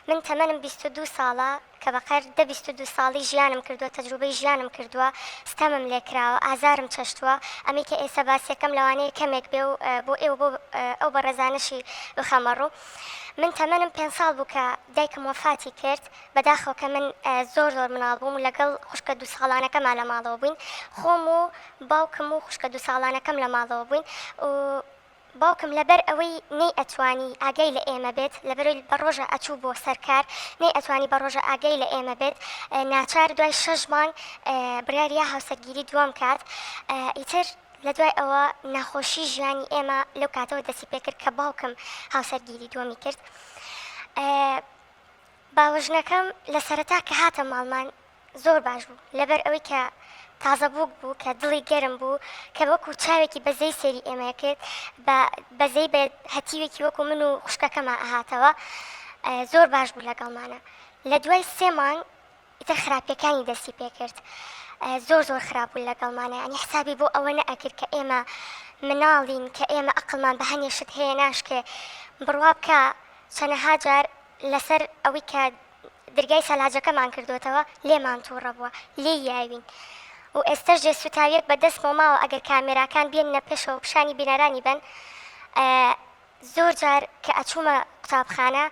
من تەمەنم بیست و دوو ساڵە کە بە قەر دە بیست و دوو ساڵی ژیانم کردووە تەجروبەی ژیانم کردووە ستەمم لێ کراوە ئازارم چەشتووە ئەمەی کە ئێسە باسیەکەم لەوانەیە کەمێک بێ و بۆ ئێوە بۆ ئەو بەڕێزانەشی بخەمە ڕوو من تەمەنم پێنج ساڵ بوو کە دایکم وەفاتی کرد بەداخەوە کە من زۆر زۆر مناڵ بووم و لەگەڵ خوشکە دوو ساڵانەکەما لە ماڵەوە بووین خۆم و باوکم و خوشکە دوو ساڵانەکەم لە ماڵەوە بووین و باوکم لە بەر ئەوەی نەی ئەتوانی ئاگای لە ئێمە بێت لە بەرۆی بە ڕۆژە ئەچوو بۆ سەر کار نەی ئەتوانی بە ڕۆژە ئاگای لە ئێمە بێت ناچار دوای شەش مانگ بڕیاریا هاوسەرگیری دووەم کات ئیتر لە دوای ئەوە ناخۆشی ژیانی ئێمە لەو کاتەوە دەسی پێ کرد کە باوکم هاوسەرگیری دووەمی کرد باوەژنەکەم لە سەرەتا کە هاتە ماڵمان زۆر باش بوو لەبەر ئەوەی کە تازە بووک بوو کە دڵی گەرم بوو کە وەکو چاوێکی بەزەی سێری ئێمەیە کرد بە بەزەی بە هەتیوێکی وەکو من و خوشکەکەما ئەهاتەوە زۆر باش بوو لەگەڵمانە لە دوای سێ مانگ ئیتر خراپەکانی دەستی پێکرد زۆر زۆر خراپ بوو لەگەڵمانە ئەنی حسابی بۆ ئەوە نەئەکرد کە ئێمە مناڵین کە ئێمە ئەقلمان بە هەنێشت هەیە ناشکێ بڕوا بکە چەنەها جار لەسەر ئەوەی کە درگای سەلاجەکەمان کردۆتەوە لێمان توڕە بوە لێی یاوین و ئێستەش جێ سوتاویەک بە دەستمەوە ماوە ئەگەر کامێراکان بێننە پێشەوە پیشانی بینەرانی بەن زۆر جار کە ئەچومە قوتابخانە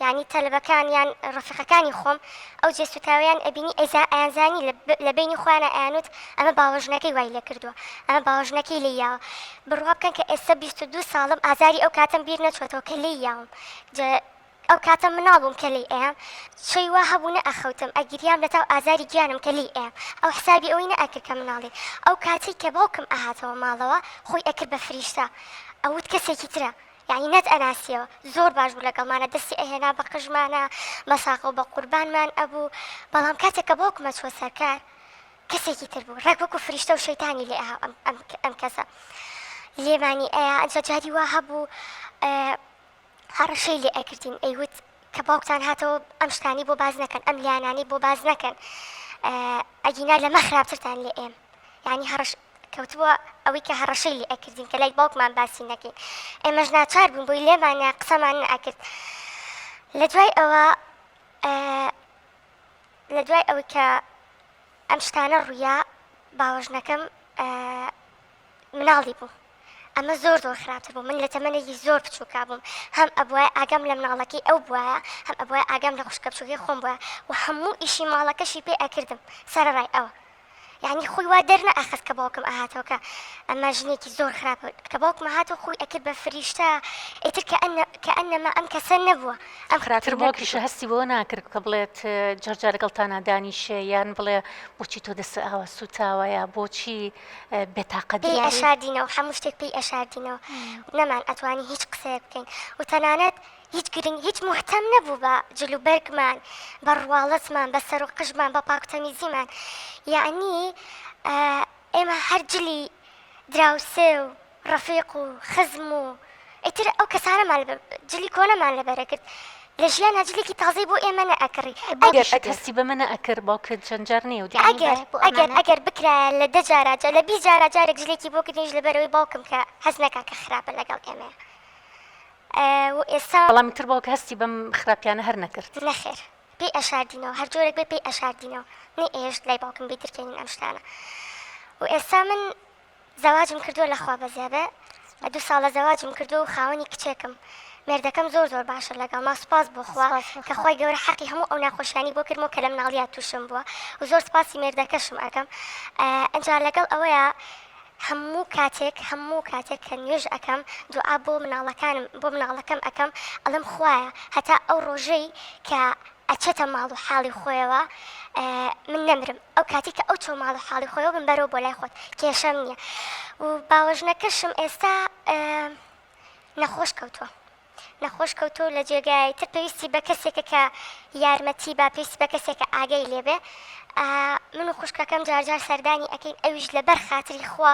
یانی تەلەبەکان یان ڕەفیقەکانی خۆم ئەو جێ سوتاویان ئەبینی ئەیزا ئەیانزانی لە بینی خۆیانە ئەیانوت ئەمە باوەژنەکەی وای لێ کردوە ئەمە باوەژنەکەی لێ یاوە بڕوا بکەن کە ئێستا بیست و دوو ساڵم ئازاری ئەو کاتەم بیر نەچۆتەوە کە لێی یاوم ئەو کاتە مناڵ بووم کە لێی ئەیام چەی وا هەبوو نەئەخەوتم ئەگریام لە تاو ئازاری گیانم کە لێی ئەیام ئەو حسابی ئەوەی نەئەکرد کە مناڵی ئەو کاتەی کە باوکم ئەهاتەوە ماڵەوە خۆی ئەکرد بە فریشتە ئەوت کەسێکی ترە یانی نەت ئەناسیەوە زۆر باش بوو لەگەڵمانە دەستی ئەهێنا بە قژمانە بە ساغە و بە قوربانمان ئەبوو بەڵام کاتێک کە باوکم ئەچووە سەر کار کەسێکی تر بوو ڕێک وەکو فریشتە و شەیتانی لێ ئەها ئەم کەسە لێمانی ئەیا ئەجا جاری وا هەبوو هەڕەشەی لێ ئەکردین ئەیوت کە باوکتان هاتەوە ئەم شتانی بۆ باز نەکەن ئەم لایەنانی بۆ باز نەکەن ئەگینا لەمە خراپترتان لێ ئێم یعنی هەڕەش کەوتووە ئەوەی کە هەڕەشەی لێ ئەکردین کە لای باوکمان باسی نەکەین ئێمەش ناچار بوون بۆی لێمانە قسەمان نەکرد لە دوای ئەوە لە دوای ئەوەی کە ئەم شتانە ڕوویا باوەژنەکەم مناڵی بوو ئەمە زۆر زۆر خراپتر بوو من لە تەمەنێکی زۆر بچووکا بووم هەم ئەبواە ئاگام لە مناڵەکەی ئەو بواە هەم ئەبواە ئاگام لە خوشکە بچووکی خۆم بووە و هەموو ئیشی ماڵەکەشی پێ ئەکردم سەرڕای ئەوە یعنی خۆی وا دەرنە ئەخست کە باوکم ئاهاتەوە کە ئەمە ژنێکی زۆر خراپە کە باوکمە هاتو خۆی ئەکرد بە فریشتە ئیتر کە ئەنە کە ئەنەما ئەم کەسە نەبووە ئەم خراتر باوکیشە هەستی بۆ ناکرد کە بڵێت جەرجارەگەڵتانە دانیشێ یان بڵێ بچی تۆ دەست ئاوە سوتاوەیە بۆچی بێتاقەت پێی ئەشاردینەوە هەموو شتێک پێی ئەشاردینەوە نەمان ئەتوانی هیچ قسەیە بکەین و تەنانەت هیچ گرنگ هیچ محتەم نەبوو بە جلوبەرگمان بە ڕواڵەتمان بە سەر و قژمان بە پاکتەمیزیمان یعنی ئێمە هەرجلی دراوسێ و ڕەفیق و خزم و ئیتر ئەو کەسانەمان جلی کۆنەمان لەبەرە کرد لە ژیانا جلێکی تازەی بۆ ئێمە نەئەکڕی ئەگەر ئەتەستی بە منە ئەکرد باوکت چەند جار نیە و ئەگەر ئەگەر ئەگەر بکرایە لە دە جارا جا لە بیست جارا جارێک جلێکی بۆ کردنیش لەبەرەوەی باوکم کە هەست نەکا کە خراپە لەگەڵ ئێمە و ئێستا بەڵام تر باوکە هەستی بەم خراپیانە هەر نەکرد نەخێر پێی ئەشاردینەوە هەر جۆرێک بێ پێی ئەشاردینەوە نەی ئێشت لای باوکم بیترکێنین ئەم شتانە و ئێستا من زەواجم کردووە لە خوا بەزێبێ بە دوو ساڵە زەواجم کردووە و خاوەنی کچێکم مێردەکەم زۆر زۆر باشە لەگەڵ ما سوپاس بۆ خوا کە خۆی گەورە حەقی هەموو ئەو ناخۆشیانی بۆ کردمەوە کە لەم ناڵیات تووشم بووە و زۆر سپاسی مێردەکەشم ئەکەم ئەجا لەگەڵ ئەوەیە هەموو کاتێک هەموو کاتێک کە نوێژ ئەەکەم دوعا بۆ مناڵەکانم بۆ مناڵەکەم ئەەکەم ئەڵم خویە هەتا ئەو ڕۆژەی کە ئەچێتە ماڵ و حاڵی خۆیەوە من نەمرم ئەو کاتی کە ئەو چۆ ماڵ و حاڵی خۆیەوە من بەرەوە بۆ لای خۆت کێشەم نییە و باوەژنەکەشم ئێستا نەخۆش کەوتووە نەخۆش کەوتو لە جێگای تر پێویستی بە کەسێکە کە یارمەتی با پێویست بە کەسێکە ئاگەی لێبێ من و خوشکەکەم جارجار سەردانی ئەەکەین ئەویش لەبەر خاتری خوا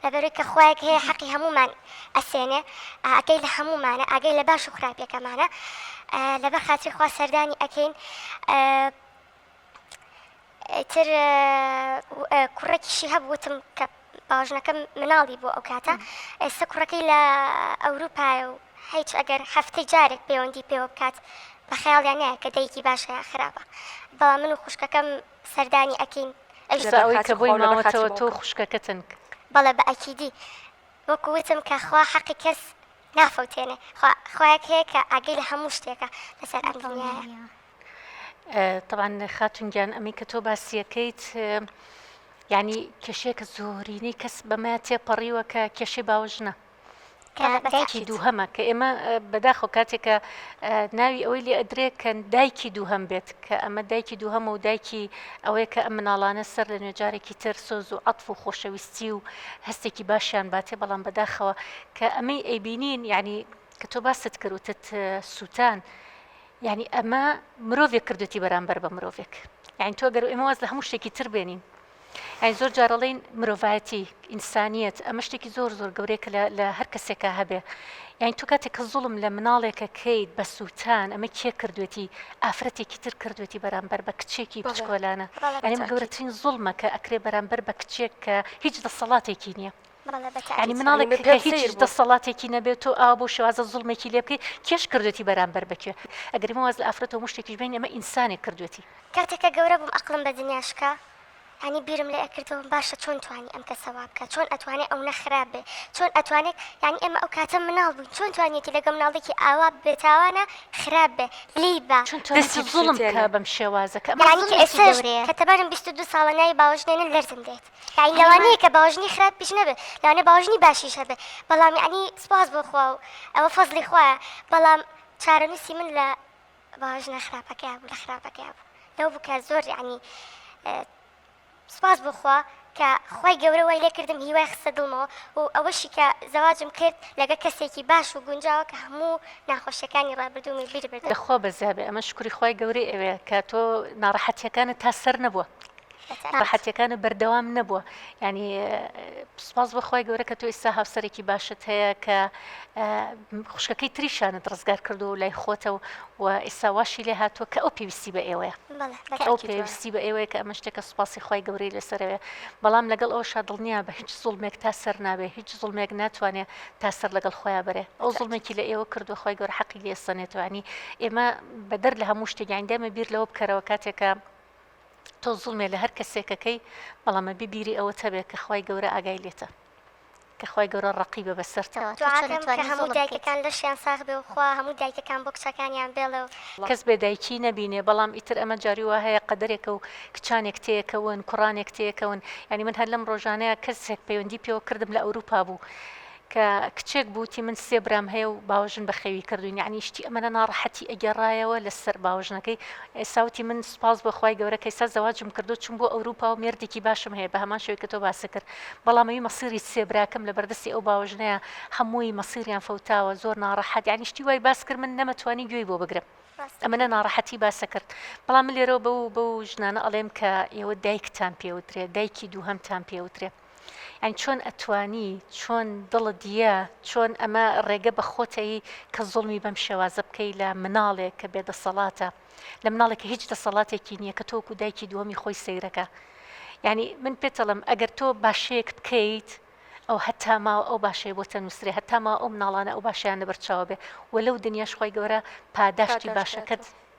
لەبەرەوەی کە خوایەک هەیە حەقی هەمومان ئەسێنێ ئاگای لە هەموومانە ئاگای لە باش و خراپیەکەمانە لەبەر خاتری خوا سەردانی ئەکەین تر کوڕێکیشی هەبووتم کە باژنەکەم مناڵی بۆ ئەو کاتە ئێستا کوڕەکەی لە ئەوروپایە و هیچ ئەگەر هەفتەی جارێک پەیوەندی پێوە بکات بە خەیاڵیان نایە کە دایکی باشە یا خراپە بەڵا من و خوشکەکەم سەردانی ئەکەین ئەوی کە بۆی ماوەتەوە تۆ خوشکەکەتن بەڵێ بە ئەکیدی وەکو وتم کە خوا حەقی کەس نافەوتێنێ خوا خوایەک هەیە کە ئاگەی لە هەموو شتێکە لەسەر ئەم دڵنیایە طبعاً خاتون گیان ئەمی کە تۆ باسیەکەیت ینی کێشێکە زۆرینەی کەس بەمە تێپەڕیوە کە کێشەی باوژنە دایکی دووهەمە کە ئێمە بەداخۆ کاتێکە ناوی ئەوەی لێ ئەدرێ کە دایکی دووهەم بێت کە ئەمە دایکی دووهەمە و دایکی ئەوەیە کە ئەم مناڵانە سەر لە نوێ جارێکی تر سۆز و عەتف و خۆشەویستی و هەستێکی باشیان باتێ بەڵام بەداخەوە کە ئەمەی ئەیبینین یعنی کە تۆ باست کرد وتت سووتان یعنی ئەمە مرۆڤێک کردوتی بەرامبەر بە مرۆڤێک یعنی تۆ گەر ئێمە واز لە هەموو شتێکی تر بێنین یعنی زۆر جارەڵین مرۆڤایەتی ئینسانیەت ئەمە شتێکی زۆر زۆر گەورەیە کە لە هەر کەسێکا هەبێ یعنی تو کاتێک کە زوڵم لە مناڵێکە کەیت بە سووتان ئەمە کێ کردوێتی ئافرەتێکی تر کردوێتی بەرامبەر بە کچێکی بچکۆلانە ئەنیمە گەورەترین زوڵمە کە ئەکرێ بەرامبەر بە کچێک کە هیچ دەسەڵاتێکی نییە ینی مناڵێک کە هیچ دەسەڵاتێکی نەبێت تۆ ئا بۆ شوازە زوڵمێکی لێ بکەیت کێش کردوێتی بەرامبەر بکوێ ئەگەری مواز لە ئافرەتەوە مشتێکیش بین ئەمە ئینسانێک کردوێتی کاتێکە گەورە بووم ئەقلم بە دنیاشکە یانی بیرم لێ ئەکردەوە باشە چۆن توانی ئەم کەسە وا بکا چۆن ئەتوانێ ئەونە خراپ بێ چۆن ئەتوانێت یانی ئێمە ئەو کاتە مناڵ بووین چۆن توانیەتی لەگە مناڵێکی ئاوا بێتاوانە خراپ بێ لێی با چون تۆ دەستی نەکەم ظلم سووتێنە. کە بەم شێوازە کە ئەمە یانی کە ظلمێکی ئێستاش گەورەیە کە تەمەنم بیست و دوو ساڵە ناوی باوەش نێنن لەرزم دێت یانی یانی ما لەوانەیە کە باوەژنی خراپیش نەبێ لەوانەیە باوەژنی باشیش هەبێ بەڵام یانی سوپاس بۆ خوا و ئەوە فەزڵی خوایە بەڵام چارەنووسی من لە باش نە خراپەکەیا بوو لە خراپەکەیا بوو لەو بوو کە زۆر یعنی سوپاس بخوا کە خی گەورە وای لێکردم هیوای خستە دڵمەوە و ئەوەشی کە زەواجم کرد لەگە کەسێکی باش و گونجاوە کە هەموو ناخۆشیەکانی ڕابردوومی بیر بدە خۆ بەزیابێ ئەمە شکری خی گەورەی ئەوێ کە تۆ ناڕەحەتیەکانت تا سەر نەبووە. ڕەحەتیەکانە بەردەوام نەبووە یانی سوپاس بەخوای گەورە کە تۆ ئیستا هاوسەرێکی باشت هەیە کە خوشکەکەی تریشانت ڕزگار کردو و لای خۆتە و و ئیستا واشی لێ هاتووە کە ئەو پێویستی بە ئێوەیە ئەو پێویستی بە ئێوەیە کە ئەمە شتێکە سوپاسی خی گەورەی لەسەرەوێ بەڵام لەگەڵ ئەو شادڵنیە بە هیچ زوڵمێک تا سەر نابێ هیچ زوڵمێک ناتوانێت تا سەر لەگەڵ خۆیان بەرێ ئەو زوڵمێکی لە ئێوە کردو خی گەور حەقی لێسەنێتوانی ئێمە بەدەر لە هەموو شتێک یاندەمە بیر لەوە بکەرەوە کاتێکە تۆ زوڵمێ لە هەر کەسێک کەکەی بەڵام ئەبی بیری ئەوەت هەبێ کە خوای گەورە ئاگای لێتە کە خوای گەورە ڕەقیبە بەسەرتا. دوعاکەم کە هەموو دایکەکان لەشیان ساخ بێ و خوا هەموو دایکەکان بۆ کچەکانیان بێڵێ و. کەس بێ دایکی نەبینێ بەڵام ئیتر ئەمە جاری وا هەیە قەدەرێکە و کچانێک تێکەون کوڕانێک تێکەون یانی من هەر لەم ڕۆژانەیا کەسێک پەیوەندی پێوە کردم لە ئەوروپا بوو کە کچێک بوو وتی من سێ برام هەیە و باوەژن بە خەوی کردووین یعنی شتی ئەمەە ناڕەحەتی ئەگەڕایەوە لەسەر باوەژنەکەی ئێستا وتی من سوپاس بۆ خوای گەورە کە ئێستا زەواجم کردو چوم بۆ ئەوروپا و مێردێکی باشم هەیە بە هەمان شێوەی کە تۆ باست کرد بەڵام ئەوی مەسیری سێ براکەم لە بەردەستی ئەو باوەژنەیە هەمووی مەسیریان فەوتاوە زۆر ناڕەحەت یعنی شتی وای باس کرد من نەمەتوانی گوێی بۆ بگرم ئەمەە ناڕەحەتی باسە کرد بەڵام من لێرەوە بەو بەو ژنانە ئەڵێم کە ئێوە دایکتان پێوترێ دایکی دووهەمتان پێوترێ یانی چۆن ئەتوانی چۆن دڵت یە چۆن ئەمە ڕێگە بە خۆتەی کە زوڵمی بەم شێوازە بکەی لە مناڵێک کە بێ دەسەڵاتە لە مناڵێک کە هیچ دەسەڵاتێکی نییە کە تۆکو دایکی دووەمی خۆی سەیرەکە یعنی من پێتەڵم ئەگەر تۆ باشەیەک بکەیت ئەو هەتا ماوە ئەو باشەیە بۆ تەنووسێ هەتا ماوە ئەو مناڵانە ئەو باشیان لەبەرچاوە بێ و لەو دنیاش خۆی گەورە پاداشتی باشەکەت